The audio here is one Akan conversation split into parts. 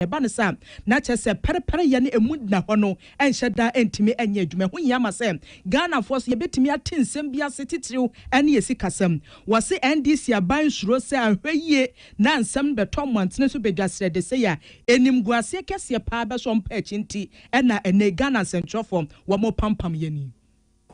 Ɛba no saa a, na kyerɛ sɛ pɛrepɛreyɛ ne emu nna hɔ no nhyɛ da ntumi nyɛ adwuma. Ɛho hia ma sɛ Ghanafoɔ nso yɛbɛtumi ate nsɛm bi ase titiriw ne yɛn sikasɛm. Wɔse NDC aban nsuro sɛ anhwɛ yie na nsɛm no bɛtɔ mmɔntene so bɛdwa srɛdesɛe a animguaseɛ kɛseɛ paa bɛsɔ mpaa akyi nti na ɛnnɛ yi Ghana nsɛnkyerɛfoɔ wɔpampam yɛn yi.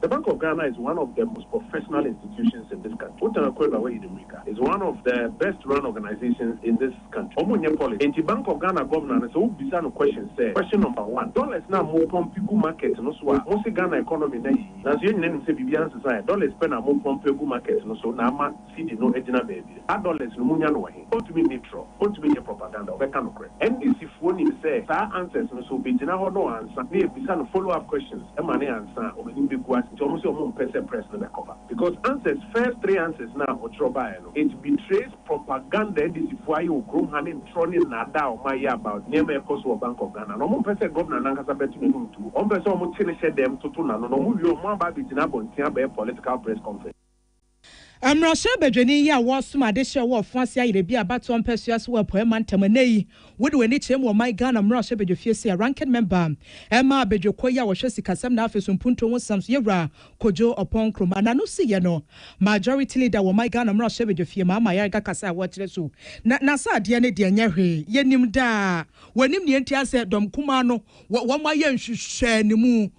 The Bank of Ghana is one of the most professional institutions in this country. Wotan Akua-Abua wayi ne mmirika is one of the best run organisations in this country. Wɔn nyɛ policy. Enti Bank of Ghana Governor no sɛ wo bisa no question sɛ, Question number one, dollars no a mo pump gu market no so a mo se Ghana economy no ayɛ yie nanso yɛn nyinaa nim sɛ biribiara nsesa ɛ, dollars pɛ na mo pump agu market no so na ama, CD no gyina baabi. Adolescents no munya no wɔ he? Ontumi nni trɔ, ontumi nyɛ propaganda, ɔbɛka nokorɛ. NDC foɔ nim sɛ saa answers no so bɛgyina hɔ na ɔansa na yɛbisa no follow up questions ma no ansa a ɔbɛnim bɛgu ase nti ɔmo se ɔmo mpɛ sɛ press no bɛ cover because answers first three answers no a ɔtwerɛ baeɛ no it betrays propaganda NDC foɔ ayɛ wɔ kurom ha ne ntrɔ ne nnaadaa a ɔmo ayɛ about nneɛma a ɛkɔ so wɔ Bank of Ghana no ɔmo mpɛ sɛ Governor no ankasa bɛto n'anum nto mu ɔmo pɛ sɛ ɔmo kye no hyɛ dɛm toto n'ano na ɔmo wie a ɔmo aba abɛgyina abɔnten abɛyɛ political press conference. Mmarahyɛ badwani yi a wɔresom ade hyɛɛ wo ɔfo ase ayerɛ bi a abatoɔ mpɛsoa so wɔ Apueɛ mantam ɛnnɛ yi, wode w'ani kyerɛ mu wɔ ɔman Ghana mmarahyɛ badwafie sɛ Ranking Member ɛma abadwakuo yi a wɔhwɛ sikasɛm na afei so mpuntuo ho nsɛm so Yɛwura Kojo Oppong Nkrumah na no si yɛ no Majority Leader wɔ ɔman Ghana mmarahyɛ badwafie Maama Ayariga kasa a wɔkyerɛ so na n'asadeɛ no deɛ ɛnyɛ hwee yɛnim daa wɔnim deɛ nti asɛ dɔm kumaa no wɔn ayɛ nhwehwɛanimu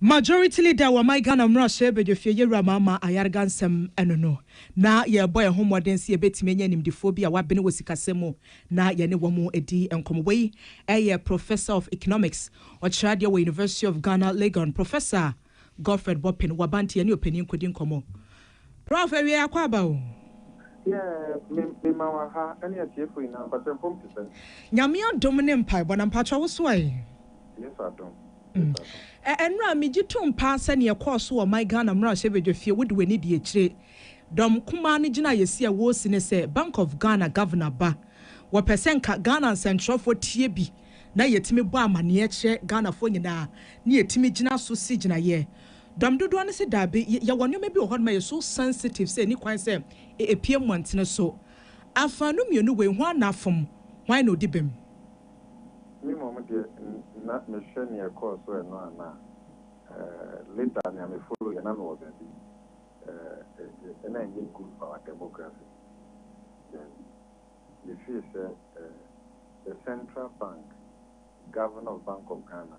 Majority leader wɔ ɔman Ghana mmarahyɛ badwafie Yawura Maama Ayarga nsɛm ɛno no na yɛrebɔ yɛn ho mmɔden sɛ yɛbɛtumi anya animdefoɔ bi a wɔabene wɔ sikasɛm mu na yɛne wɔn adi nkɔmmɔ. Wei yɛ Professor of Economics, ɔkyerɛ adeɛ wɔ University of Ghana Legon, Professor Godfred Boppin, Wabanti, yɛne ɔpanin kɔdi nkɔmmɔ. Prof awiei akɔ aba o. Yeah me me ma wa ha ɛne atiefo nyinaa mpakyɛ home te sɛn. Nyame adom ne mpaebɔ na mpakyɛ wo so ɛ. Yesu adom Yesu adom. Ɛnora me gye tom paa sɛ neɛ ɛkɔɔ so wɔ my Ghana mmarahyɛbadwa fie wode w'ani di akyire dɔm kumaa no gyina yɛsi a wɔresi ne sɛ bank of Ghana governor ba wɔpɛ sɛ nka Ghana nsɛnkyerɛfoɔ tie bi na yɛtumi bɔ amaneɛ kyerɛ Ghanafoɔ nyinaa ne yɛtumi gyina so si gyinaeɛ Dɔm dodoɔ no se daabi, y yɛwɔ nneɛma bi wɔ hɔ nom a ɛyɛ so sensitive sɛ ɛnni kwan sɛ e epue mmɔntene so. Afaanu mmienu wei, hwan na afom? Hwan na odi bem? Me mmom deɛ n na mehwɛ nea ɛkɔɔ so ɛno anaa. Eh, later nea me follow yɛ na mewɔ baabi. Eh, eh, eh, na ɛnyɛ good for our demography. Then, me feel sɛ eh, the Central Bank, Governor of Bank of Ghana,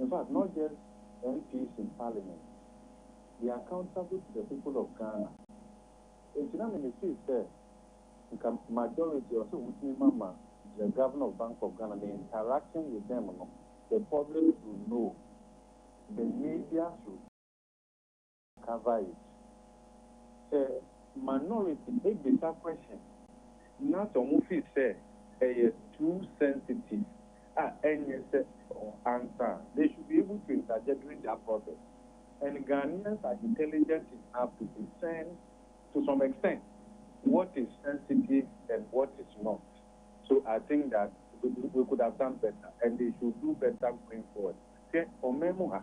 in fact not just MPs in parliament, they are accountable to the people of Ghana. Enti na me me feel sɛ nka majority ɛwɔ sɛ wɔtumi ma ma the Governor of Bank of Ghana ne interaction with them no the public should know, the media should. Kavaich, Sɛ minority ebisa question na sɛ ɔmo feel sɛ ɛyɛ too sensitive a ɛnyɛ sɛ ɔ answer a, they should be able to interject during their process and Ghanaians are intelligent enough to discern to some extent what is sensitive and what is not so I think that we could have done better and they should do better going forward hwɛ ɔman mu ha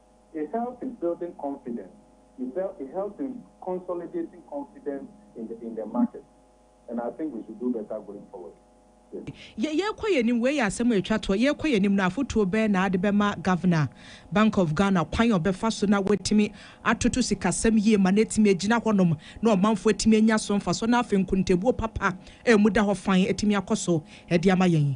It helps in building confidence, it bel it helps in consolidating confidence in the in the market and I think we should do better going forward. Yes. Yɛ yɛrekɔ yɛn anim, wei yɛ asɛm a ɛtwa toɔ, yɛrekɔ yɛn anim no, afotuo bɛn na wode bɛma Governor, Bank of Ghana, kwan a ɔbɛfa so na watumi atoto sikasɛm yie ma no atumi agyina hɔnom na ɔmanfoɔ atumi anya so mfasoɔ na afei nkontabuo papa a ɛmu da hɔ fann atumi akɔ so de ama yɛn?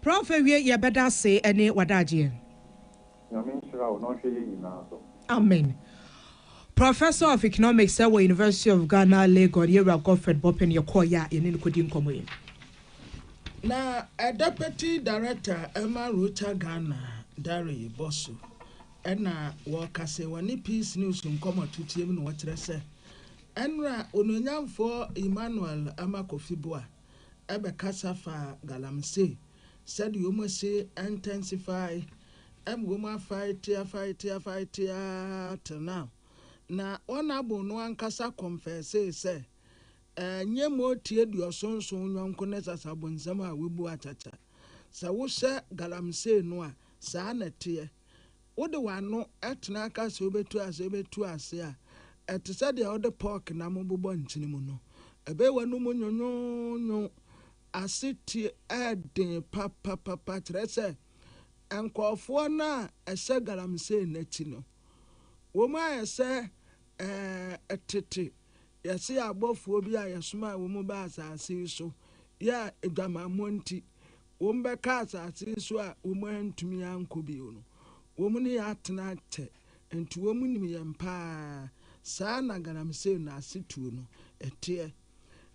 Prof awie yɛ bɛda ase ɛne wadagyeɛ. Nyame nhyira wo na ɔnhwɛ yɛn nyinaa so. Amen. Professor of Economics ɛwɔ University of Ghana Legon, Yɛwura Godfred Boppin yɛ kɔɔ yɛ a yɛne no kɔdi nkɔmmɔ yi. Na Deputy Director ɛma Rocha Ghana, Dare Bosso ɛna wɔka sɛ wɔne Peace News nkɔmmɔ tuteɛ mu na wɔkyerɛ sɛ ɛnora Onuonyamfoɔ Emmanuel Ama Kofi Boah bɛkasa faa galamsey, sɛdeɛ wɔn asi intensify, ɛma wɔn afight tia fight tia fight tia till now. Na Honourable no ankasa confessee sɛ, ɛnyɛ Moti Aduɔson nson yɔnko ne Sasabonsam a wobu atɛtɛ. Sɛ wohyɛ galamsey no a, saa na ɛteɛ. Wode w'ano tena aka sɛ wubetu ase wubetu ase a, ɛte sɛ deɛ wode pɔɔk nam bobɔ nkyene mu no. Ɛbɛyɛ w'anom nwonwonwo. Asetie yɛ den papapapa, kyerɛ sɛ, nkurɔfoɔ no a ɛhyɛ galamsey no akyi no, wɔn ayɛ sɛ ɛɛ tete yɛse abɔfoɔ bi a yɛsomaa wɔn baa asase yi so yɛɛ adwamammɔ nti, Wɔbɛka asase so a wɔantumi ankɔ bio no, wɔn ne yɛn atena akyɛ, enti wɔnim yɛn pa ara. Saa na galamsey no asetuo no teɛ.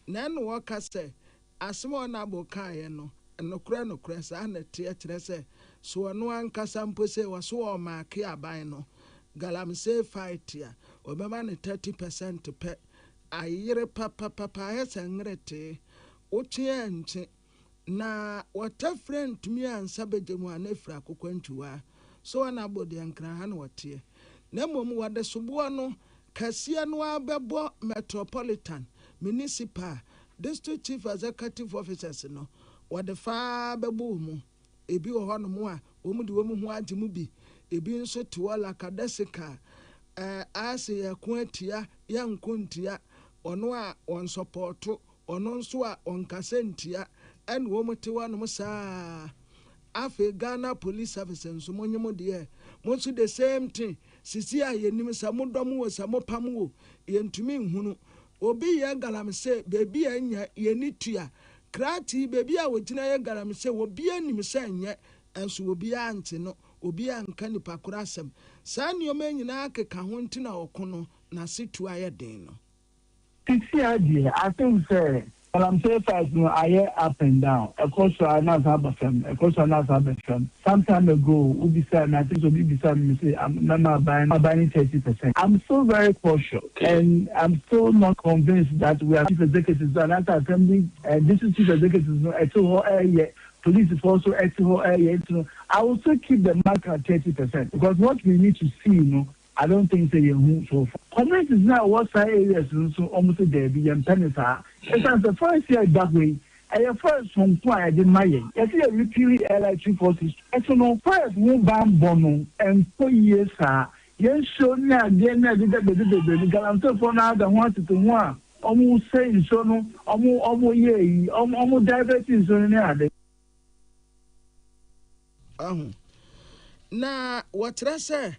Na ɛnna wɔka sɛ, Asɛm a Onabble kaeɛ no, nokorɛ nokorɛ, saa na ɛteɛ, kyerɛ sɛ, so ɔno ankasa mpo sɛ wɔso ɔremaake aban no, galamsey fight a, wɔbɛma no thirty percent pɛ. Ayere papapapa, ayɛ sɛ nweretee. Wotwe a ɛnkye. Na wɔtafira ntumi ansa bɛgya mu ana firi akokwantwiwa so ana abɔ deɛ nkran ha na wɔteɛ, na mmom wɔde soboɔ no kɛseɛ no ara bɛbɔ Metropolitan, Municipal, District Chief Executive Officers no, wɔde fa ara bɛbɔ wɔn mu. Ebi wɔ hɔnom a wɔde wɔn ho agye mu bi, ebi nso te hɔ lakadasikaa, ɛɛ, ayɛ sɛ yɛreko atia, yɛnko ntia wɔn a wɔnsɔpɔɔto Ɔno nso a ɔnkasa ntia ɛna wɔn te hɔ nom saa. Afei Ghana police service nso mo nye mo deɛ mo nso the same thing sisi a yɛnim sɛ mo dɔm wo sɛ mo pam wo yɛntumi nhunu obi yɛ galamsey baabi a ɛnyɛ yɛni tua kratii baabi a ɔgyina yɛ galamsey obiara nim sɛ ɛnyɛ nso obiara nte no obiara nka nipa koro asɛm saa nneɛma nyinaa keka ho nti na ɔko no nase tuo ayɛ den no. Sisiaa deɛ I think sɛ galamsey fight no ayɛ up and down, ɛkɔ soro a na asan aba fam, ɛkɔ soro a na asan aba fam. Some time ago wo bisaa me I think sɛ obi bisaa me mese am mɛma aban no aban no thirty percent. I'm still very cautious and I'm still not convinced that we are chief executives no anaasɛ assembly and district chief executives no ɛte hɔ ɛɛyɛ, policefoɔ nso ɛte hɔ ɛɛyɛ nti no I will still keep the mark at thirty percent because what we need to see no I don't think sɛ yɛn hu so far. Communities no a ɛwɔ saa areas no nso wɔn se daabi yɛmpɛ no saa ɛsiane sɛ forest yi a ɛda hɔ yi ɛyɛ forest sononko a yɛde ma yɛn yɛse yɛ repealy ɛrely three four six two ɛso no forest ho banbɔ no ɛnkɔ yie saa yɛn suro ne adeɛ no a ɛdeda baabi bebree no galamseyfoɔ no ara da ho atete ho a wɔn sɛe nsuo no wɔn wɔn yɛ ayi wɔn wɔn divert nsuo no ne ade. Wahu. Na wɔkyerɛ sɛ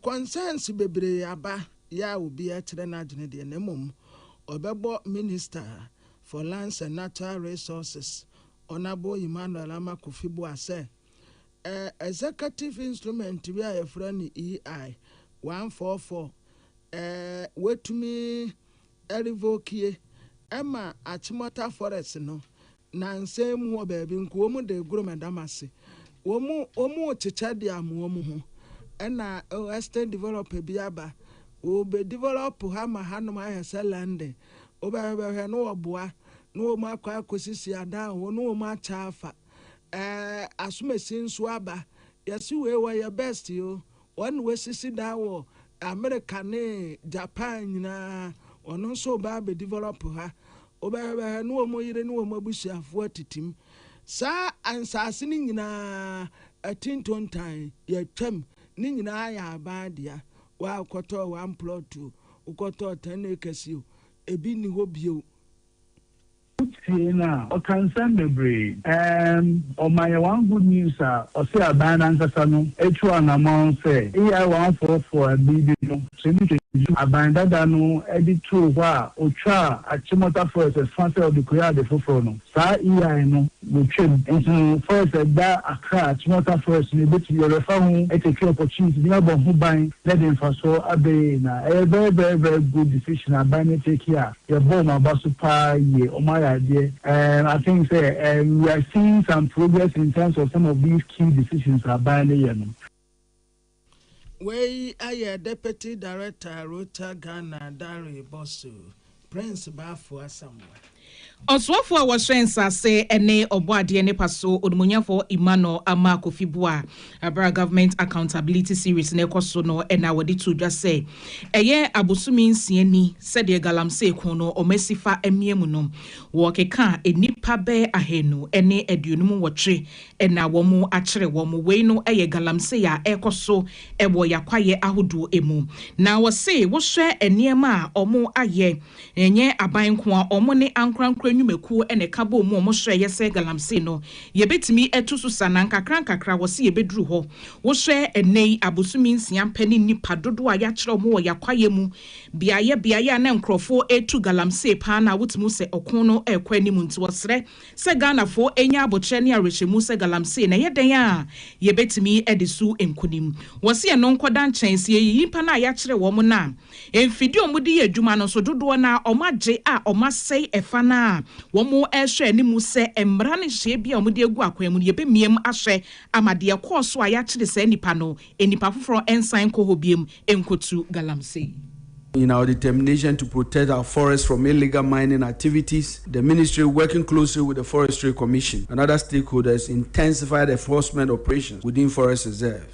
kɔnsɛns bebree aba yɛ a obiara akyerɛ n'adwene deɛ na mmom ɔbɛbɔ Minister for Lands and Natural Resources, Honourable Emmanuel Ama Kofi Boah sɛ Executive Instrument bi a yɛfrɛ no EI 144 wɔatumi arevokie ma Achimota Forest no Nnansa yi mowɔ baabi nka wɔn de goro ma dam ase. Wɔn rekyekyɛ de ama wɔn ho. Ɛna western developer bi aba. Ɔbɛ develop ha ma hanom ayɛ sɛ London. Wobɛhwɛ bɛhwɛ ne wɔboa ne wɔn akɔ akɔsisi adan wɔ hɔ ne wɔn akyɛ afa. Ɛɛ asomasi nso aba. Yɛse wei wɔyɛ best o. Wɔn wɔasisi dan wɔ America ne Japan nyinaa wɔn nso reba abɛ develop ha. Wɔbɛhwɛ bɛhwɛ ne wɔn yere ne wɔn abusuafoɔ atitim. Saa nsaase no nyinaa atintontan yɛatwam ne nyinaa yɛ aban dea. Waa wokɔtɔɔ one plot o, wokɔtɔɔ ten acres o, ɛbi nni hɔ bio. Wotie no a, ɔka nsɛm bebree. Ɛɛm, ɔma yɛn one good news a ɔse aban no ankasa no atu anamɔn sɛ AI one four four a bere bi no Twene Twedwo, aban dada no de too hɔ a ɔtwaa Achimota Forest ɛfã sɛ ɔde kɔyɛ ade foforɔ no, saa AI no bɛtwam. Enti no forest a ɛda Accra, Achimota Forest no, yɛbɛtumi, yɛbɛfa ho ɛtɛtwi opportunity na yɛabɔ ho ban na ɛde mfasoɔ aba yɛn nyinaa. Ɛyɛ very very very good decision a aban no atake a Yɛbɔ ɔmo aba so paa yie. Ɔmo ayɛ adeɛ. Erm I think sɛ erm we are seeing some progress in terms of some of these key decisions a aban no yɛ no. Wei ayɛ Deputy Director Rota Ghana Dare Bosso, Prince Baffour Asamoah. Ɔsoafoɔ a wɔhyɛ nsase ne Ɔbɔadeɛ ne paso Onimuonyamfoɔ Emmanuel Amarh Kofi Buah Bere a Government Accountability Series no rekɔ so no na wɔde too dwa sɛ ɛyɛ abosome nsia ni sɛdeɛ Galamsey ko no wɔasi fa amia mu no, wɔkeka a nnipa bɛyɛ ahanu ne aduonum nwɔtwe na wɔakyere wɔn. Wei no yɛ galamsey a ɛrekɔ so wɔ yɛn akwaeɛ ahodoɔ mu. Na wɔse wohwɛ nneɛma a wɔayɛ Ɛnyɛ aban nko a, wɔn ne ankorankoro nnwumakuo na ɛka bɔɔ mu wɔn srɛeɛ sɛ galamsey no yɛbɛtumi atu so sa na nkakra nkakra wɔse yɛbɛduru hɔ. Wohwɛ ɛnnɛ yi abosome nsia pɛ ne nnipa dodoɔ a yɛakyerɛ wɔn wɔ yɛn kwaeɛ mu beaeɛ beaeɛ a na nkorɔfoɔ retu galamsey paa no a wotumi hu sɛ ɔko no rekɔ anim nti wɔsrɛ sɛ Ghanafoɔ ɛnya aboterɛ ne awerɛhyɛmu sɛ galamsey no ɛyɛ dɛn a yɛbɛtumi de so nkunim. Wɔse ɛno nkɔda nkyɛn sɛ yɛyiyi nnipa no a yɛakyerɛ wɔn no a. Mfidie a wɔde yɛ adwuma no nso dodoɔ no ara wɔagye a wɔasɛe ɛfa no ara a wɔrehwɛ anim sɛ mmara ne nhyehyɛeɛ biara a wɔde agu akwan mu no yɛbɛmia mu ahwɛ ama deɛ ɛkɔɔ so a yɛakyere saa nnipa no nnipa foforɔ nsan nkɔ hɔ bio nkɔtu galamsey. In our determination to protect our forests from illegal mining activities, the Ministry, working closely with the Forestry Commission and other stakeholders, intensified enforcement operations within forest reserves.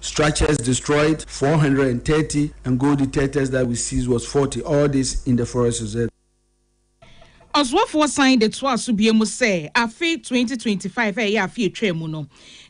Structures destroyed, four hundred and thirty, and gold detectors that we seized was forty, all this in the Forest Reserve. Ɔsoafoɔ san de toaa so biom sɛ afe twenty twenty five a ɛyɛ afe a ɛtwaa mu no,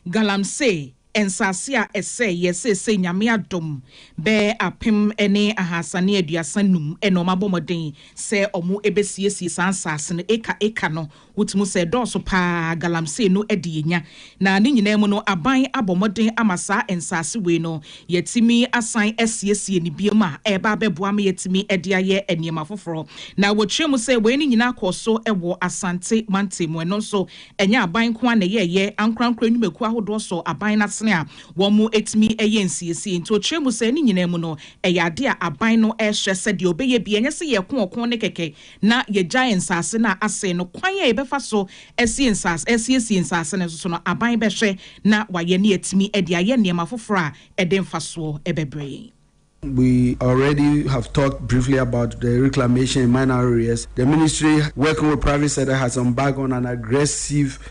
Galamsey nsase a ɛsɛeɛ seesei Nyame adom bɛɛ apem ne ahasa ne aduasa num na wɔabɔ mmɔden sɛ wɔbɛsiesie saa nsase no acre acre no Wotumi sɛ dɔɔso paa galamsey no de yɛnya, na ne nyinaa mu no aban abɔ mmɔden ama saa nsaase wei no yɛatumi asan asiesie no biom a ɛreba abɛboa ma yɛatumi de ayɛ nneɛma foforɔ. Na wɔkyerɛ mu sɛ wei no nyinaa kɔɔ so wɔ Asante mantam mu. Ɛno nso ɛnyɛ aban nko ara na ɛyɛeɛ, ankorankoro nnwumakuo ahodoɔ sɔɔ aban no asene a wɔatumi yɛ nsiesie. Nti wɔkyerɛ mu sɛ ne nyinaa mu no ɛyɛ adeɛ a aban no rehyɛ sɛdeɛ ɔbɛyɛ bi, ɛnyɛ sɛ yɛreko ɔko no kɛkɛ, na yɛagyae nsase no a asɛe no, kwan a yɛbɛfa so asie nsase, asiesie nsase no nso so no, aban bɛhwɛ na wayɛ na yɛatumi de ayɛ nneɛma foforo a ɛde mfasoɔ bɛbrɛ yɛn. We already have talked briefly about the reclamation in minor areas. The ministry working with private sector has embarked on an aggressive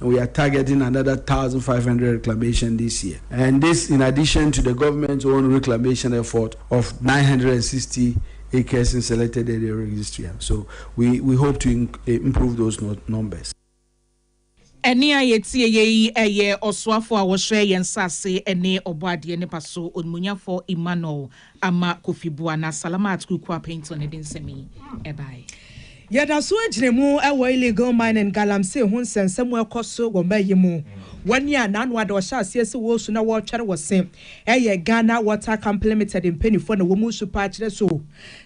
We are targeting another thousand five hundred reclamation this year and this in addition to the government own reclamation effort of nine hundred and sixty acres in selected area registria so we we hope to improve those numbers. Ɛnne a yɛtie yɛ yi yɛ ɔsoafoɔ a ɔhwɛ yɛn nsase ne Ɔbɔadeɛ ne Paso Onimuonyamfoɔ Emmanuel ama Kofi Boa na Salamat Kukua Pinto no de nsɛm yi bae. Yɛdaso agyina mu wɔ illegal mining, galamsey, ho nsɛnsɛm mu ɛkɔ so wɔ mba yi mu. Wɔn yi a naano ada ɔhyɛ aseɛ sɛ wɔresu na wɔretwɛre wɔ se ɛyɛ Ghana Water Company Limited mpanifoɔ na wɔn resu paa kyerɛ so.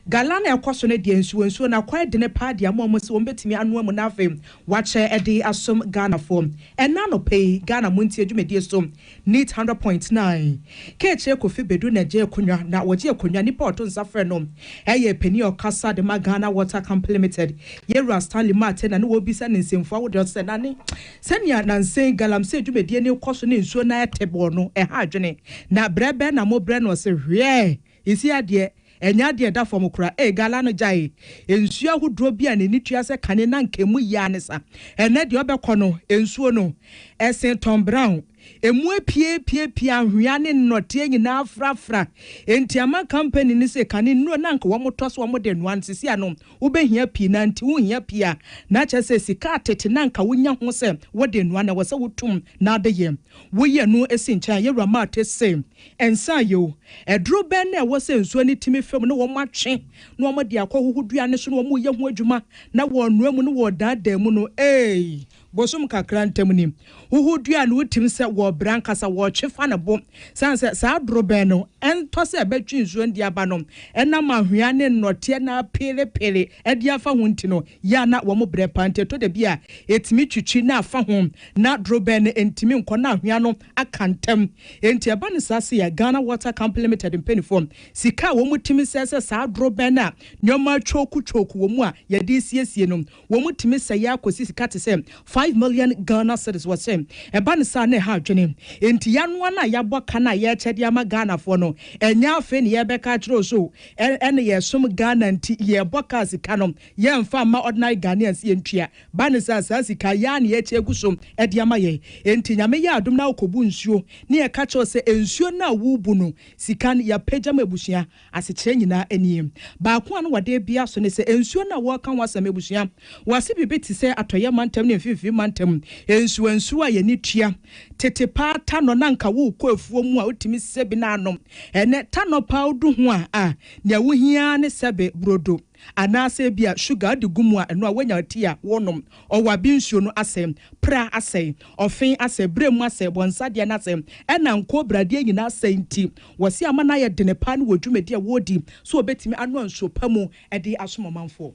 Galan a ɛkɔ so no deɛ nsuo nsuo na kwan dene paa de ama wɔn se wɔn bɛtumi anoa mu na afei wɔakyɛ de asom Ghanafoɔ. Ɛna anɔpa yi Ghana montie dwumadie so Neat hundred point nine K'ekyir Kofi Bedu na gyee akonwa na wɔgye akonwa nipa ɔto nsa frɛ no yɛ panyin a ɔkasa de ma Ghana Water Company Limited Yewura Stanley Martey na no wɔrebisa no nsɛmfua ahodoɔ sɛ na ne sɛnea nansen Galamsey dwumadie no rekɔ so ne nsuo no ayɛ tebɔɔ no ɛha adwene na brɛ bɛn na mobrɛ no ɔse hwɛɛ Nsi adeɛ, ɛnyɛ adeɛ a ɛda fam koraa. Ee Gala no gyaee nsuo ahodoɔ bi a n'ani tua sɛ kane na anka ɛmu yea ne sa. Ɛnnɛ deɛ wobɛkɔ no, nsuo no, ɛsee Tom Brown. Ɛmu apiapiapia, anhwea ne nnɔteɛ nyinaa afrafra. Enti ama kampani no se kane nnuro no anka wɔtɔ so wɔde noa no, seesei ano wobɛhia pii na nti wonhia pii a na kyerɛ sɛ sika a tete no anka wonya ho sɛ wode noa no, ɛwɔ sɛ wotum na adeyɛ. Woyɛ no si nkyɛn a, Yɛwura Marthe se. Nsa ye o. Aduro bɛn na ɛwɔ sɛ nsuo no tumi fa mu na wɔatwe na wɔde akɔhoho dua no so na wɔreyɛ ho adwuma na wɔrenoa mu na wɔredaadaa mu no? Eei! Bosom kakra ntam ni. Hoho dua no wotim sɛ wɔrebrɛ ankasa, wɔretwe fa ne bo. Sane sɛ saa aduro bɛn no ntɔ sɛ ɛbɛtwe nsuo no de aba no nam anhwea ne nnɔteɛ na apeerepeere de afa ho nti no, yɛ a na wɔbrɛ paa nti ɛtɔ da bi a ɛtumi twitwi na afa ho na aduro bɛn no ntumi nkɔ na anhwea no aka ntam. Enti ɛba no saa sei a, Ghana Water Company Limited mpanimfoɔ, sika a wɔtumi sɛe sɛ saa dorobɛn no a nneɛma kyooku kyooku wɔ mu a yɛde resiesie no, wɔtumi sɛe ara kɔsi sika te sɛ five million Ghana cedis. Wɔse ɛba no saa a, na ɛha adwene. Enti yɛanoa no a yɛabɔ ka no a yɛrekyɛ de ama Ghanafoɔ no, ɛnyɛ afei na yɛrebɛka akyerɛ wo sɛ o, ɛnne yɛsom Ghana nti yɛrebɔ ka a sika no yɛmfa mma ordinary Ghanaians yɛntua. Ba ne saa, saa sika yi ara na yɛakyɛ agu so de ama yɛn. Enti Nyame yɛɛ adom na ɔkɔbu nsuo ne yɛka kyerɛɛ wo sɛ nsuo no a worebu no, sika no, yɛapagya ma abusua. Asekyerɛ nyinaa nie. Baako a na wɔde rebea so ne sɛ, nsuo no a wɔreka ho asɛm, abusua, wɔase biribi te sɛ Atɔeɛ mantam ne Mfimfini mantam nsuwansuwa a yɛn ani tua. Tete paa tanɔ no anka worekɔ afuo mu a wotumi sɛbi na anom. Ɛnnɛ tanɔ paa wodu ho a, a, nea wohia ara ne sɛbe burodo. Anaasɛ ebia sugar a ɔde gu mu a ɛno a woanya tea a wonom, ɔwabi nsuo no asɛe, pra asɛe, ɔfe asɛe, berɛ mu asɛe, bɔnsadeɛ no asɛe, ɛna nkoobradeɛ nyinaa asɛe nti, wɔse ama no ayɛ dene paa ne wɔ dwumadie a wɔredi sɛ wɔbɛtumi anoa nsuo pa mu de asom ɔmanfoɔ.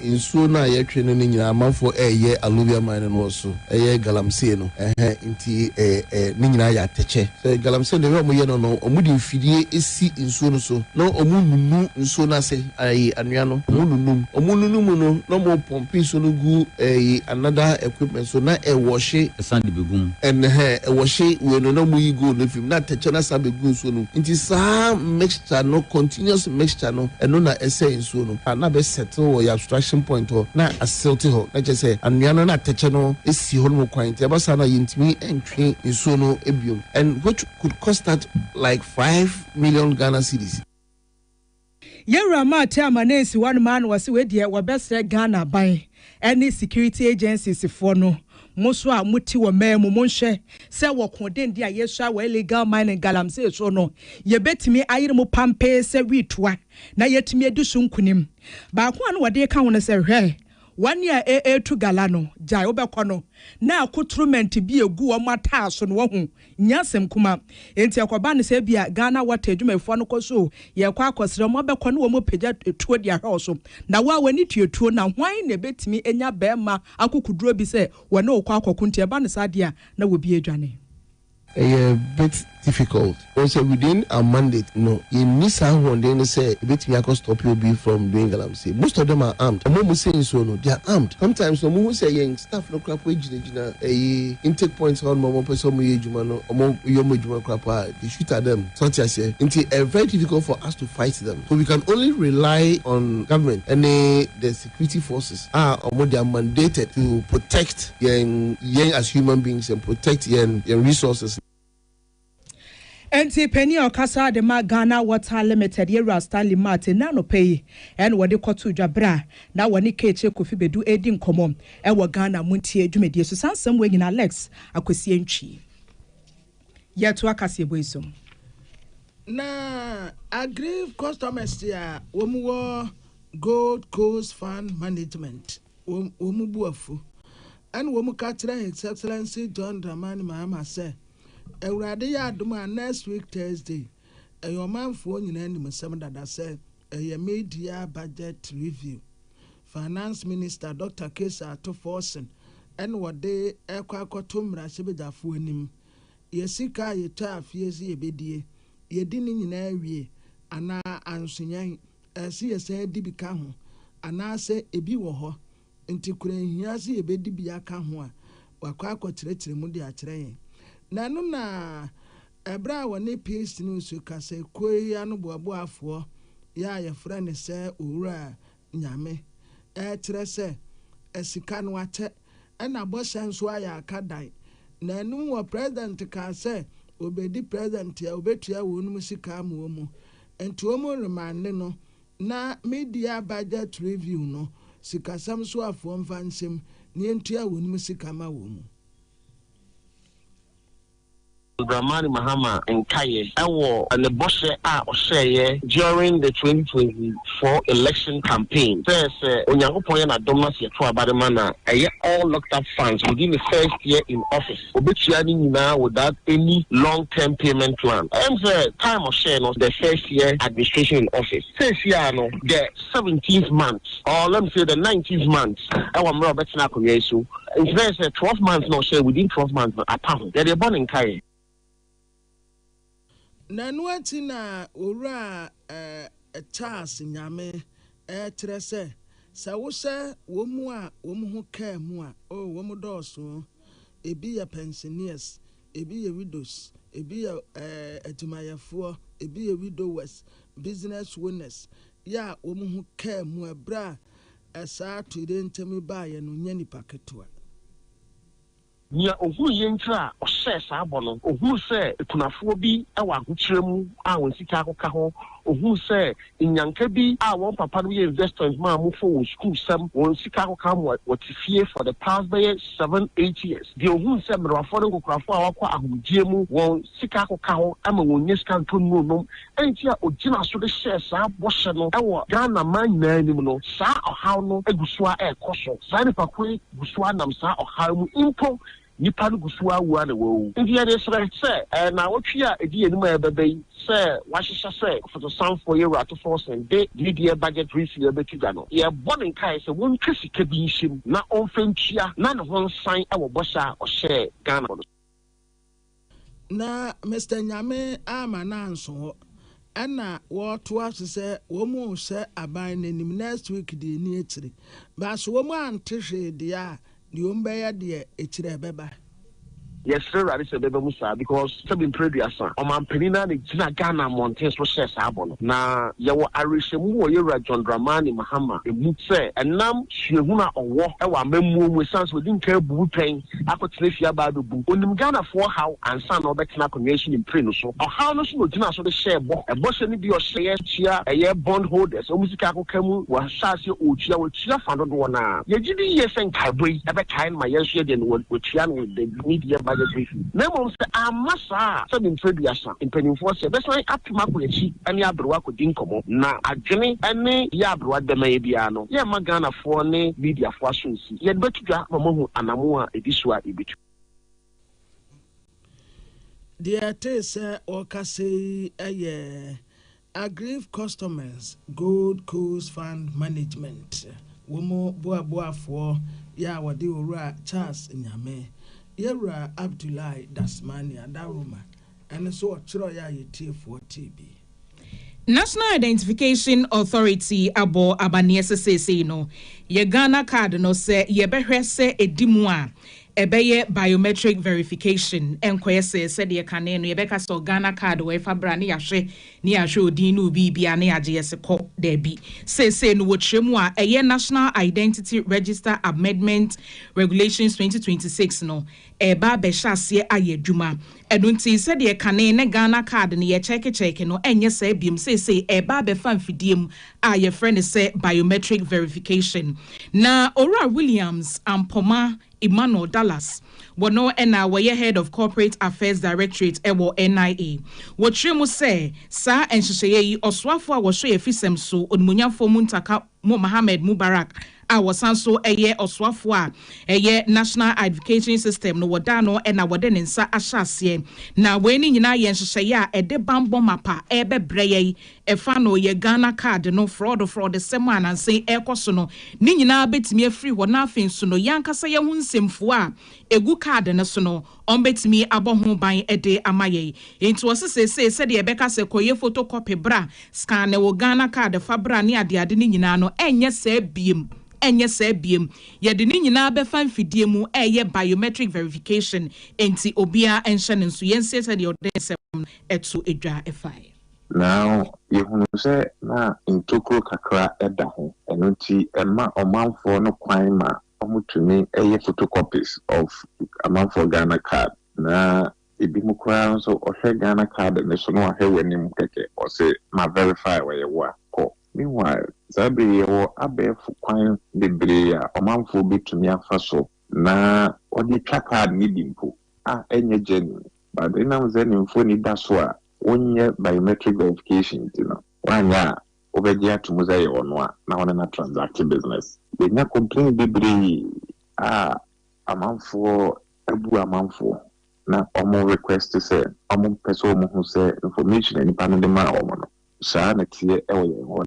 Nsuo no a yɛtwe no no nyinaa amanfoɔ reyɛ alluvial mining wɔ so. Ɛyɛ galamsey no ɛhɛn nti ɛɛ ne nyinaa yɛ atɛkyɛ sɛ galamsey no deɛ wɔyɛ no no wɔn de mfidie ɛsi nsuo no so na wɔn nunu nsuo no ase ɛyi anwea no wɔn nunum wɔn nunu mu no na wɔn pɔmpe nsuo no gu ɛyi another equipment so na ɛwɔhye ɛsan de bɛgu mu. Ɛnhɛn ɛwɔhye wei no na wɔn yi gold no firi mu na atɛkyɛ no asan bɛgu nsuo no mu nti saa mixture no continuous mixture no ɛno na ɛsɛe nsuo no. a na bɛ settle wɔ yɛ abstraction point hɔ na asew te hɔ, na kyerɛ sɛ anwea no na atɛkyɛ no si hɔ no mu kwan, nti ɛba saa no a yentumi ntwe nsuo no biom and which could cost us like five million Ghana cedis. Yɛn wura Mah te amanee si hɔ nom aa na ɔse wei deɛ wɔbɛsrɛ Ghana ban ɛne security agencies foɔ no, mo nso a mote wɔ man mu, monhwɛ sɛ wɔ ko denden a yɛsua wɔ illegal mining galamsey so no, yɛbɛtumi ayere mo pampee sɛ wii toa na yɛatumi adi so nkunim. Baako a na wɔde reka ho no sɛ, Hwɛ, wɔn a ɛretu gala no, gyae, wobɛkɔ no, na akotromɛnte bi a ɛgu wɔn ataaso no, wahu, Nyɛ asɛm kuma. Enti ɛkɔbaa no sɛ ebia Ghana Water adwumayɛfoɔ no kɔ so yɛkɔ akɔsrɛ wɔn abɛkɔ ne wɔn pagya tuo de ahwɛ wo so. Na wo a w'ani tua tuo no a, hwan na ɛbɛtumi anya barima akokoduroɔ bi sɛ wɔne wo kɔ akɔko? Nti ɛba no saa deɛ a, na obi adwane. Ɛyɛ a bit difficult. Wɔn sɛ within our mandate no, yɛnni saa ahoɔden no sɛ yɛbɛtumi akɔ stope obi from doing galamsey. Most of them are armed. Wɔn a wɔsɛe nsuo no, they are armed. Sometimes no, wɔhu sɛ yɛn staff no koraa po agyina gyina. gyina ɛyi intake point hɔ nom a wɔpɛ sɛ wɔn yɛ adwuma no wɔn yɛ wɔn adwuma kora paa they shoot at them so ɔte aseɛ nti ɛyɛ very difficult for us to fight them so we can only rely on government ɛne the security forces a wɔn they are mandated to protect yɛn yɛn as human beings and protect yɛn yɛn resources no. Enti panin a ɔkasa de ma Ghana Water Limited, Yewura Stanley Matt, nnɛ anɔpa yi na wɔde kɔtoo dwa bere a na wɔne Kehkye Kofi Bedu redi nkɔmmɔ wɔ Ghana Montie dwumadie so. Saa nsɛmmoa nyinaa Alex Akwasi Antwi yɛ toa kaseɛbɔ yi so. Na Agriv Customers a wɔwɔ Gold Coast Fund Management. wɔn bo afu. Ɛnna wɔka kyerɛɛ His Excellency John Dramani Mahama sɛ, Awurade yɛ adom a next week Thursday, ɛyɛ ɔmanfoɔ nyinaa animsɛm dada sɛ ɛyɛ mid-year budget review. Finance Minister Doctor Caesar Ato Forson na wɔde rekɔ akɔto mmarahyɛbadwafoɔ anim. Yɛ sika a yɛtwaa fie sɛ yɛbɛdie, yɛdi ne nyinaa wie anaa anso yɛn? Ɛse yɛsan di bi ka ho anaasɛ ebi wɔ hɔ nti kora enhia se yebedi bi aka ho a wɔakɔ akɔkyerɛkyerɛ mu de akyerɛ yɛn. Na ɛno na ɛbere a wɔne Peace News kasakuo yi anoboaboafoɔ yi a yɛfrɛ no sɛ Owura Nyame rekyerɛ sɛ sika no akyɛ. ɛna bɔhyɛ nso ayɛ aka dan. Na ɛnom wɔ president kaa sɛ obedi president a obetua wɔnom sika ama wɔn. Nti wɔn remande no na media budget review no sikasɛm so afoɔ mfa nsem na yɛntua wɔnom sika ma wɔn. John Dramani Mahama nkaeɛ wɔ ne bɔhyɛ a ɔhyɛeɛ during the twenty twenty four election campaign sɛ sɛ Onyankopɔn yɛ n'adom na sɛ yɛto aba de ma no a, ɛyɛ all locked up funds within ne first year in office, ɔbɛtua ne nyinaa without any long term payment plan. Ɛm sɛ time ɔhyɛɛ no the first year administration in office, seesei ara no the seventeenth month or let me say the nineteenth month wɔ mmerɛ a ɔbɛtena akonnwa yi so. Nti na yɛ sɛ twelve months na ɔhyɛɛ within twelve months no apa ho yɛde bɔ ne nkaeɛ. Na ɛno akyi na Owura Charles Nyame ɛɛkyerɛ sɛ, sɛ wohyɛ wɔn mu a wɔn ho kaa mu a, oh wɔn dɔɔso o, ebi yɛ pensioners, ebi yɛ widows, ebi yɛ adwumayɛfoɔ, ebi yɛ widowers, business owners, yɛ a wɔn ho kaa mu ɛberɛ a Ɛsaa to yɛn ntam baa yɛn no nyɛ nipa ketewa. Nea ohuu yɛn nti a ɔhyɛɛ saa bɔ no, ohuu sɛ akunafoɔ bi wɔ ahokyerɛ mu a wɔn sika akɔka hɔ, ohuu sɛ nnyanka bi a wɔn papanom yɛ investors maa wɔn for wɔn sukuusɛm, wɔn sika akɔka hɔ ma wɔte fie for the past bɛyɛ seven, eight years. Deɛ ohuu sɛ mmerewafoɔ ne nkokorafoɔ a wɔakɔ ahomegyeɛ mu wɔn sika akɔka hɔ ma wɔnnya sika ntɔ nnuro nnom enti a ogyina so de hyɛɛ saa bɔhyɛ no wɔ Ghana man nyinaa anim no, saa ɔhaw no gu so ara rekɔ so. Saa nnipakuo yi gu so ara nam saa ɔhaw yi mu mpo. Nnipa no gu so ara wu ara na wɔawu. Enti yɛde resrɛ sɛ, ɛyɛ nnawɔtwe a ɛdi yɛn anim a ɛbɛba yi, sɛ wɔahyehyɛ sɛ Ɔfotosanfoɔ Yewurato Forson de Dwumadie Budget Resale bɛto dwa no, yɛrebɔ ne nkaeɛ sɛ wɔntwa sika bi nhyɛ mu na ɔmfa ntua na ne ho nsan wɔ bɔhyɛ a ɔhyɛɛ Ghanafoɔ no so. Na Mister Nyame amma no annso hɔ. Ɛna wɔtoa so sɛ wɔn rehyɛ aban no anim next week deɛ ɛni akyire. But so wɔn ante hwee deɛ a, deɛ wɔn bɛyɛ deɛ akyire ɛbɛba. Yɛsrɛ Awurade sɛ ɛbɛba mu saa because sɛbi mprɛduasa Ɔmanpanin no ara na ɛgyina Ghana mmɔnten so hyɛɛ saa bɔ no. Na yɛwɔ awerɛhyɛmu wɔ Yɛwura John Dramani Mahama mu sɛ ɛnam suahunu a ɔwɔ wɔ amammuo mu ɛsiane sɛ ɔdi nkan abu wo pɛn, akɔtena fie aba abɛbu. Ɔnim Ghanafoɔ haw ansa na ɔbɛtena akonnwa yi so ne mpire no so. Ɔhaw no so na ɔgyinaa so de hyɛɛ bɔ. Ɛbɔhyɛ no bi a ɔhyɛeɛ tua ɛyɛ bond holders wɔn sika akɔka mu. Wahyɛ aseɛ ɔretua, watua fa dodoɔ no ara. Yɛgye di yie sɛ nkaebɔ yi ɛbɛkae no ma yɛn nso yɛdeɛ no wɔatua no with the mid year budget review. Na mmom sɛ amma saa a, sɛdeɛ mprɛduasa mpanimfoɔ seɛ, bɛsan apem akɔ akyi ne aberewa akɔdi nkɔmmɔ. Na adwene ne yɛ aberewa dɛmɛn biara no, yɛremma Ghanafoɔ ne mediafoɔ aso nsi. Yɛbɛto dwa ma moahu anammɔn a ɛdi so a yɛbɛtu. Deɛ yɛtee sɛ wɔrekasa yi yɛ Agriv Customers Gold Coast Fund Management wɔn boaboafoɔ yɛ a wɔde Owura Charles Nyame, Yawura Abdullahi Dasmani Adaroma ɛno nso wɔtwerɛeɛ a yɛtiefoɔ tee bi. National Identification Authority abɔ amanneɛ sɛ seesei no, yɛ Ghana card no sɛ yɛbɛhwɛ sɛ ɛdi mu a, ɛbɛyɛ biometric verification, ɛnkɔyɛ sɛ sɛdeɛ kane no yɛbɛka sɛ Ghana card wɔ fa bra ne yɛahwɛ ne yɛahwɛ odin ne obiibiaa na yɛagye yɛse kɔ, daabi. Seesei no wɔkyerɛ mu a, ɛyɛ National Identity Register Amendment Regulations 2026 no, reba abɛhyɛ aseɛ ayɛ adwuma. Ɛno nti, sɛdeɛ kane ne Ghana card no yɛkyɛɛkekyɛɛke no ɛnyɛ saa biom. Seesei ɛreba abɛfa mfidie mu a yɛfrɛ no sɛ biometric verification. Na Owura Williams Ampomah Emmanuel Dallas, wɔno na wɔyɛ Head of Corporate Affairs Directorate ɛwɔ NIA. Wɔkyerɛ mu sɛ, saa nhyehyɛeɛ yi, Ɔsoafoɔ a wɔhyɛ yɛn afisɛm so Onimuonyamfoɔ Muntaka, Mo Mohamed Mubarak a wɔsan nso yɛ ɔsoafoɔ a ɛyɛ National Identification System no wɔdaa no na wɔde ne nsa ahyɛ aseɛ. Na wei no nyinaa yɛ nhyehyɛeɛ a ɛde bammɔ mapa rebɛbrɛ yɛn ɛfa no yɛ Ghana card no frɔɔdo frɔɔdesɛm a nansa yi ɛrekɔ so no ne nyinaa bɛtumi afiri hɔ na afei nso no yɛn ankasa yɛn ho nsɛmfua a ɛgu card no so no Wɔbɛtumi abɔ ho ban de ama yɛn. Enti wɔse seesei sɛdeɛ yɛbɛka sɛ kɔyɛ photocopy bra, scanne wo Ghana card fa bra ne adeade no nyinaa no, ɛnyɛ saa biem. Ɛnyɛ saa biem. Yɛde ne nyinaa bɛfa mfidie mu reyɛ biometric verification. Enti obiara nhyɛ ne nso. Yɛnsie sɛdeɛ wɔde nsɛm no to dwa fa yɛn. Now yɛhunu sɛ na ntokuro kakra da ho, ɛno nti ɛma ɔmanfoɔ no kwan ma Ɔmo tumi yɛ photocopies of amanfoɔ Ghana card na ebi mo koraa nso ɔhwɛ Ghana card no so na wahwɛ w'anim kɛkɛ ɔse ma verify ɔyɛ wo a kɔ. Meanwhile, saa bere yi yɛwɔ abɛɛfo kwan bebree a ɔmanfoɔ bɛtumi afa so na wɔde atwa card no bi mpo a ɛnyɛ gyɛnin but ɛnam sɛ ne mfoɔ ani da so a wonyɛ biometric verification nti no, wanyɛ a wobɛgye ato mu sɛ ɛyɛ ɔno a na wo ne no atransact business. Yɛanya complaints bebree a amanfoɔ abu amanfoɔ na wɔn request sɛ wɔpɛ sɛ wɔn hu sɛ information a nipa no de maa wɔn no saa ara na ɛteɛ wɔ yɛn hɔ.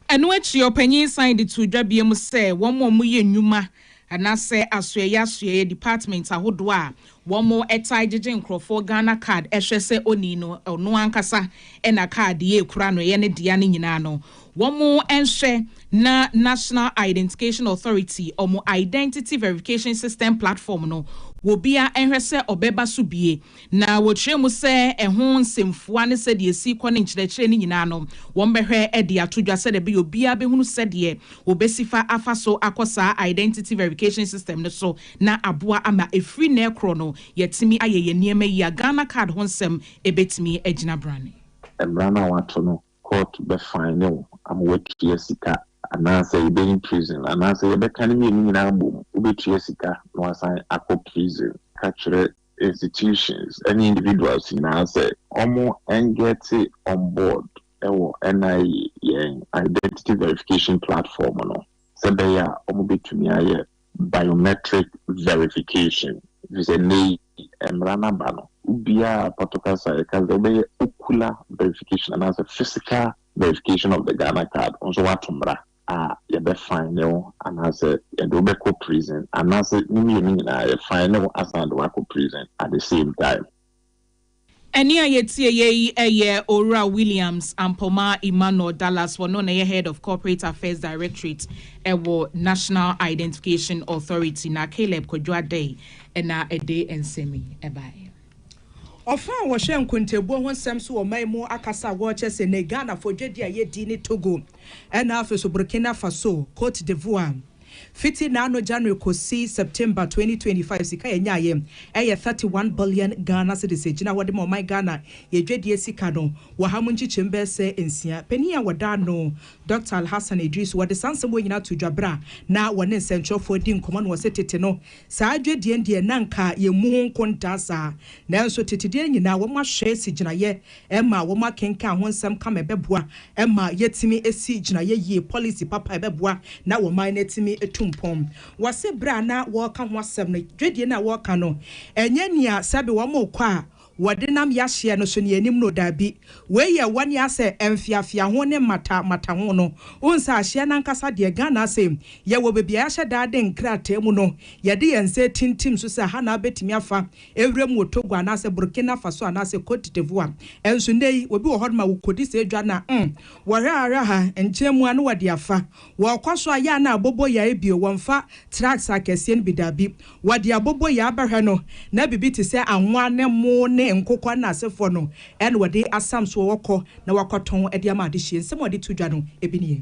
Ɛno akyi ɔpanyin san de too dwa biam sɛ wɔn a wɔyɛ nnwuma Anasɛ asoɛeɛ asoɛeɛ department ahodoɔ a wɔn taa gyegye nkorɔfoɔ Ghana card hwɛ sɛ onii no ɔno ankasa na card yi ɛkura no ɛyɛ ne dea no nyinaa no wɔn nhwɛ na National Identication Authority wɔn Identity Verification System Platform no wɔbia nhwɛ sɛ ɔbɛba so bie Na wɔkyerɛɛ mu sɛ ɛho nsɛmfua ne sɛdeɛ ɛsi rekɔ ne nkyerɛkyerɛ no nyinaa no, wɔbɛhwɛ de ato dwa sɛdeɛ ɛbɛyɛ obiara bɛhunu sɛdeɛ wɔbɛsi fa afa so akɔ saa Identity Verication System no so na aboa ama ɛfiri nnɛ rekorɔ no yɛatumi ayɛ yɛn nneɛma yie a Ghana Card ho nsɛm bɛtumi agyina brane. Mmara no a wɔato no, kɔɔto bɛfaene wo ama woatua sika anaasɛ yɛbɛyi no prison anaasɛ yɛbɛka ne mmienu nyinaa abom, wobɛtua sika na woasan akɔ prison. Ka kyerɛ. institutions ne individuals nyinaa sɛ ɔmo ɛngɛte on board wɔ NIE yɛn identity verification platform no sɛ bɛyɛ a ɔmo bɛtumi ayɛ biometric verification efisɛ nnɛ yi mmra no aba no obiaa a pɔtɔ kasa a yɛka sɛ wobɛyɛ ocular verification anaasɛ physical verification of the Ghana card nso wato mmra. a yɛbɛ fine wo anaasɛ yɛde wo bɛkɔ prison anaasɛ ne mmienu nyinaa yɛ fine wo asan de wo akɔ prison at the same time. Ɛnne a yɛtieyɛ yi ɛyɛ Owura Williams Ampomah Emmanuel Dallas ɔno na ɛyɛ Head of Corporate Affairs Directorate ɛwɔ National Identification Authority na Caleb Kwadwo Adei ɛna ɛde nsɛm yi ɛbaeɛ. Ɔfa a wɔhwɛ nkontabuo ho nsɛm so wɔ ɔman mu akasa a wɔrekyɛ sɛ nnɛ Ghanafoɔ dwadie a yɛdi ne Togo. ɛna afei nso Burkina Faso, Cote d'Ivoire. Fiti n'ano January kɔsi September twenty twenty five, sika a yɛnyaeɛ ɛyɛ thirty one billion Ghana cedis. Ɛgyina hɔ de ma ɔman Ghana yɛn dwadie sika no wɔ ha mu nkyekyɛmu bɛyɛ sɛ nsia. Panin a wɔda ano, Doctor Alhassan Idrisu, ɔde saa nsɛm wei nyinaa too dwa berɛ a na wɔne nsɛntwerɛfoɔ redi nkɔmmɔ no. Ɔse tete no, saa dwadie no deɛ na anka yɛmmu ho nkontaa saa, nanso tete deɛ nyinaa wɔahwɛ asi gyinaeɛ ma wɔakenkan ho nsɛm ka ma ɛbɛboa ma yɛatumi asi gyinaeɛ yie, pɔlisi papa a ɛbɛboa na ɔman no atumi atu mpɔn. Wɔse berɛ a na wɔreka ho asɛm no, dwadie no a wɔreka no, ɛnyɛ nea sɛbe wɔrekɔ a wɔde nam yɛahyeɛ no so nea anim no, daabi, wei yɛ wɔn nea sɛ mfeafeaho ne mmata mmataho no. Wohu sɛ ahyeɛ no ankasa deɛ, Ghana ase yɛwɔ baabi a yɛahyɛ da de nkrataa mu no, yɛde yɛn nsa atintim so sɛ ha na wobɛtumi afa Ewuram wɔ Togo anaasɛ Burkina Faso anaasɛ Côte d'Ivoire nso, nnɛyi obi wɔ hɔnom a wokodi saa dwa no a, mm, wɔhwɛ ara ha, nkyɛn mu ara na wɔde afa. Wɔkɔ so ayɛ a na abobo yae bio, wɔmfa tracts akɛseɛ no bi, dabi, wɔde abobo yae bɛhwɛ no, na biribi te sɛ anwa ne mmo ne nkokɔ ne n'asefoɔ no na wɔde asam so a wɔkɔ na wɔakɔtɔn de ama adehyeɛ. Nsɛm a wɔde to dwa no bi nie.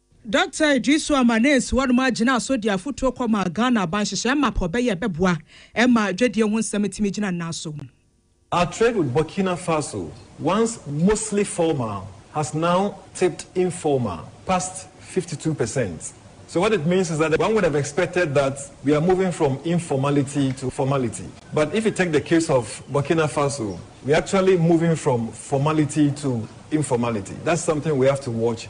Dɔkta Iddrisu Amane si hɔnom ara gyinaa so de afotuo kɔmaa Ghana aban nhyehyɛɛ map a ɔbɛyɛ a ɛbɛboa ma dwadie ho nsɛm atumi agyina nnan so. Our trade with Burkina Faso, once mostly formal, has now tipped informal past fifty two percent. So what it means is that one would have expected that we are moving from informality to formality. But if you take the case of Burkina Faso, we are actually moving from formality to informality. That's something we have to watch.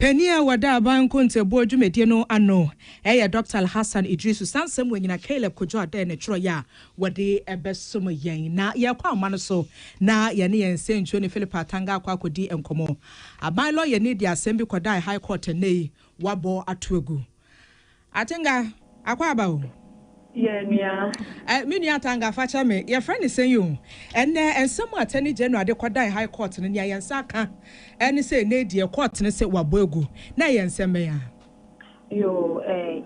Panin a ɔda aban nkontabuo dwumadie no ano yɛ Doctor Alhassan Idrisu, saa nsɛm wɔ nyina Caleb Kojo Adeh ne twerɛeɛ a wɔde bɛsom yɛn. Na yɛrekɔ ahoma no so na yɛne yɛn nsɛnkyerɛni Philip Atanga akɔ akɔdi nkɔmmɔ. Aban lɔyani de asɛm bi kɔdae High Court ɛnnɛ yi, wɔabɔ ato agu. Atenga, Akwaaba o. Yeah, nua. Eh, me nua Atanga, fa kyɛ me, yɛfrɛ no sɛn o? Ɛnnɛ, nsɛm a Attorney General de kɔdan High Court no, nea yɛn nsa ka ne sɛ ɛnnɛ yi deɛ, Court no se wɔabɔ agu. Na ɛyɛ nsɛm bɛn ara? Yoo, eh,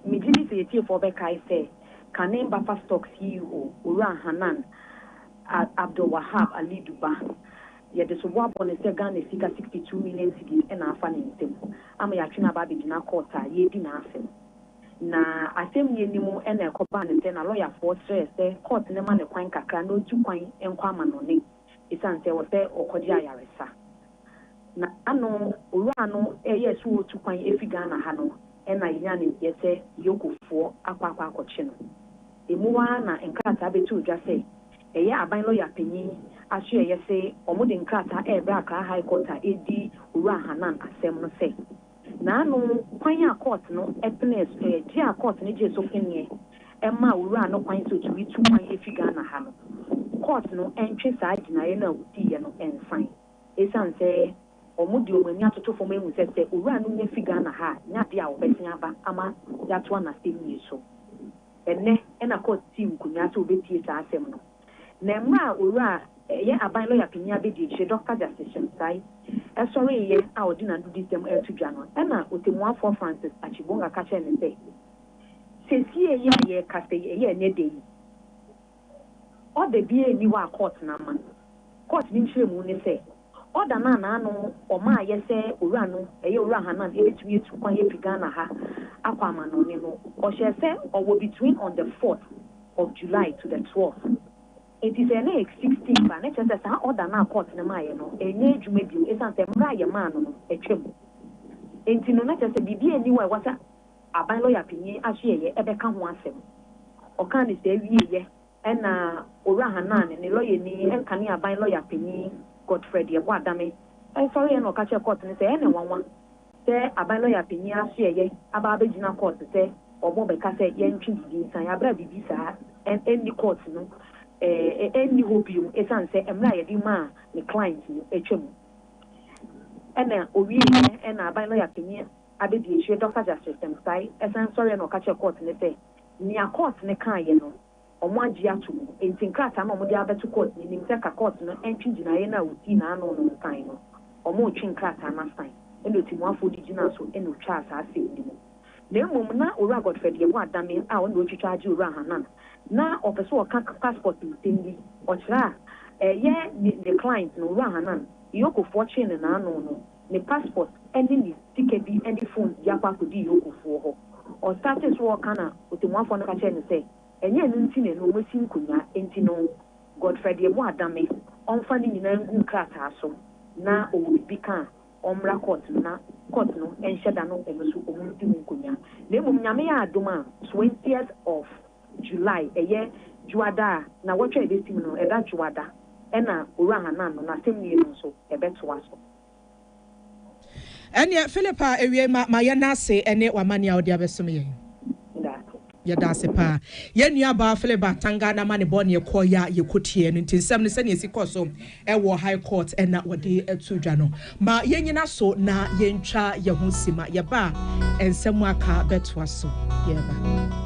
megye di sɛ atiefoɔ bɛkae sɛ kane Baffa Stock CEO, Owura Hanan Abdulwahab Alidu ba, Yɛde sobo abɔ no sɛ Ghana sika sixty two million cedis na afa ne nsam ama yɛatwe no aba abɛgyina kɔɔt a yɛredi n'asɛm. Na asɛm nni anim na ɛkɔbaa no sɛ n'alɔyafoɔ srɛɛ sɛ kɔɔt no ma no kwan kakra na ɔntu kwan nkɔ amanɔne ɛsiane sɛ ɔwɔ sɛ ɔkɔgye ayaresa. Na ano Owura no reyɛ sɛ ɔretu kwan afiri Ghana ha no na yɛnyaa nimdeɛ sɛ Yokofoɔ akɔ akɔ akɔkye no. Ɛmu ara na nkrataa bɛtoo dwa sɛ Ɛyɛ aban lɔya panyin asoɛeɛ se wɔde nkrataa rebrɛ Accra High Court a ɛredi Owura Hannan asɛm no sɛ, n'ano kwan a kɔɔt no penee so, ɛyɛ gye a kɔɔt no gyee so peneɛ ɛmaa Owura no kwan sɛ ɔtumi tu kwan ɛfiri Ghana ha no, kɔɔt no ntwe saa gyinaeɛ no a ɔdiiɛ no nsan ɛsiane sɛ wɔde wɔn ani atoto fam ahu sɛ sɛ Owura no nya firi Ghana ha a, nya adeɛ a wɔbɛsen aba ama yɛatoa n'asɛmnie so. Ɛnnɛ na Court sii nkonnwa sɛ wɔbɛtie saa asɛm no. Na mmerɛ a Owura a ɛyɛ Aban Lɔya Panin Abɛdiakyire, Dɔkta Justice Shemsai, sɔreeɛ a ɔde n'anodisɛm reto dwa no, ɛna Ɔtɛmmuafoɔ Francis Achigbonga ka kyerɛɛ no sɛ, Sesie yi a yɛrekasa yi, ɛyɛ ɛnnɛ da yi, order biara nni hɔ a Court no ama. Court no nkyerɛmu ne sɛ, Order no a na ano ɔma ayɛ sɛ Owura no, ɛyɛ Owura Hannan, ebetumi atu kwan afi Ghana ha akɔ amannɔne no, ɔhyɛɛ sɛ ɔwɔ between on the fourth of July to the twelfth. Enti sɛ ɛnɛ yɛ sixteenth a, na ɛkyerɛ sɛ saa order no a court no maeɛ no ɛnyɛ adwuma bio esiane sɛ mmerɛ a yɛmaa no no atwam nti no na kyerɛ sɛ biribiara nni hɔ a ɛwɔ sɛ aban lɔya panyin Asoɛeɛ bɛka ho asɛm. Ɔkaa no saa wieeɛ. Ɛnna Owura Hannan ne ne lɔyani Nkaneaban lɔya panyin Godfred Yeboah Adame sɔreeɛ na ɔka kyerɛɛ kɔɔto no sɛ ɛyɛ no nwanwa sɛ Aban lɔya panyin Asoɛeɛ aba abɛgyina kɔɔto sɛ wɔrebɛka sɛ yɛntwe biribi nsan yɛ bere a biribi saa nni kɔɔto no nni hɔ bio esiane sɛ mmere a yɛde maa ne client no atwam. Ɛnna ɔwieeɛ na Aban lɔya panyin abɛdi akyire Dɔkta Justice Temsai san sɔreeɛ na ɔka kyerɛɛ kɔɔto no sɛ, Nea kɔɔt no kaeɛ no, wɔagye atom. Enti nkrataa no a wɔde abɛto kɔɔt no anim sɛ ka kɔɔt no ntwe gyinaeɛ no a ɔsii n'ano no nsan no, wɔretwe nkrataa no asan, ɛna ɔtimuafoɔ de gyinaa so na ɔtwaa saa asɛm no mu. Na mmom na Owura Godfred yɛ boadame a ɔna ɔtwitwa agye Owura Hannan. Na ɔpɛ sɛ ɔka passport nsɛm bi, ɔkyerɛ a, ɛyɛ ne client no, Owura Hannan, Iyokofoɔ kyee no n'ano no. ne passport ne ne sika bi ne phone de akɔ akɔdi Yoko foɔ hɔ. Ɔstartee so ɔɔka na Otemuafoɔ no ka kyerɛɛ no sɛ ɛnyɛ ɛno nti na ɛno wɔasi nkonyaa nti no Godfrey deɛ mo adame ɔmfa ne nyinaa ngu nkrataa so na ɔwɔ biribi ka a ɔmmra court no na court no nhyɛ da no ɛno so wɔn nsi ho nkonyaa na mmom Nyame yɛ adom a 20th of July, ɛyɛ Dwoada a nnawɔtwe a ɛbɛsim no, ɛda Dwoada, ɛna Owura Hannan no n'asɛmnie no nso ɛbɛtoa so. Ɛnneɛ, Philip a ɛwiei ma ma yɛnna ase ɛne w'amanneɛ a wode abɛsom yɛn. Yɛda ase. Yɛda ase paa. Yɛn nua baa Philip Bantanga n'amanebɔ ne ɛkɔeɛ a yɛkɔtiee no nti nsɛm no sɛdeɛ ɛsi kɔ so ɛwɔ High Court na wɔde to dwa no. Ma yɛnnyina so na yɛntwa yɛn ho sima. Yɛba a, nsɛm a aka bɛtoa so. Yɛreba.